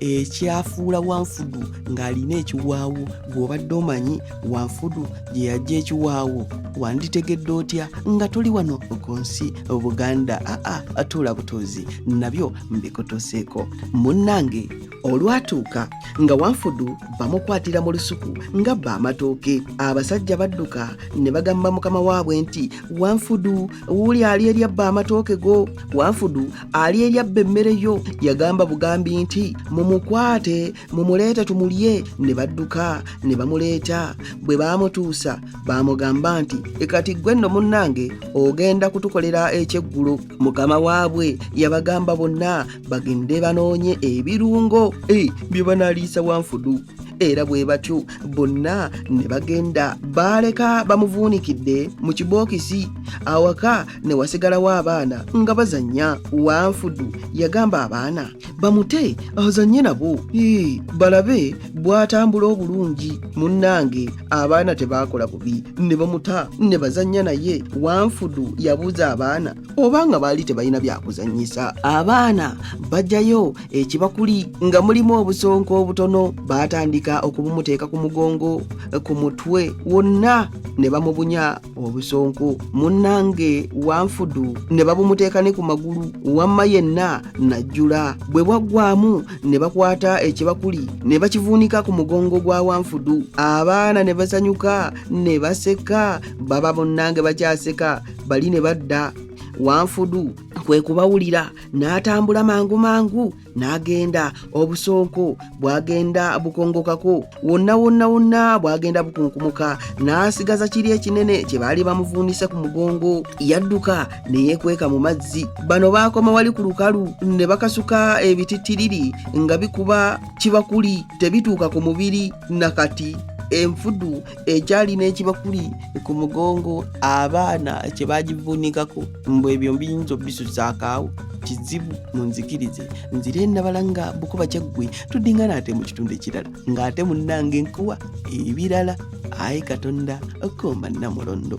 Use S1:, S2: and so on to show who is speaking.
S1: ekyafuula wanfudu ng'alina ekiwaawo gw'obadde omanyi wanfudu gye yajja ekiwaawo wanditegedde otya nga tuli wano ku nsi buganda aa atuula butuuzi nabyo mbikutuuseeko munnange olwatuuka nga wanfudu bamukwatira mu lusuku nga bba amatooke abasajja badduka ne bagamba mukama waabwe nti wanfudu wuuli ali eryabba amatooke go wanfudu ali eryabba emmere yo yagamba bugambi nti mumukwate mumuleete tumulye ne badduka ne bamuleeta bwe baamutuusa baamugamba nti ekati ggwe nno munnange ogenda kutukolera ekyeggulo mukama waabwe yabagamba bonna bagende banoonye ebirungo eh, bye banaliisa wanfudu era bwe batyo bonna ne bagenda baaleka bamuvuunikidde mu kibookisi awaka ne wasigalawo abaana nga bazannya wanfudu yagamba abaana bamute azanye nabo ii balabe bw'atambula obulungi munnange abaana tebaakola bubi ne bamuta ne bazannya naye wanfudu yabuuza abaana oba nga baali tebalina byakuzannyisa abaana bajjayo ekibakuli nga mulimu obusonko obutono baatandika okubumuteeka ku mugongo ku mutwe wonna ne bamubunya obusonko munnange wanfudu ne babumuteeka ne ku magulu wamma yenna najjula bwe bwaggwamu ne bakwata ekibakuli ne bakivuunika ku mugongo gwa wanfudu abaana ne basanyuka ne baseka baba munnange bakyaseka bali ne badda wanfudu kwe kubawulira n'atambula mangu mangu n'agenda obusonko bw'agenda bukongokako wonna wonna wonna bw'agenda bukunkumuka n'asigaza kiri ekinene kye baali bamuvuunise ku mugongo yadduka ne yeekweka mu mazzi bano baakoma wali ku lukalu ne bakasuka ebitittiriri nga bikuba kibakuli tebituuka ku mubiri na kati enfudu ekyali n'ekibakuli ku mugongo abaana kye bagivuunikako mbu ebyo mbiyinza obisusaakaawo kizibu munzikirize nzire nabala nga bukuba kyaggwe tudingana ate mu kitundu ekirala ng'ate munnanga enkuwa ebirala ayi katonda okomba namulondo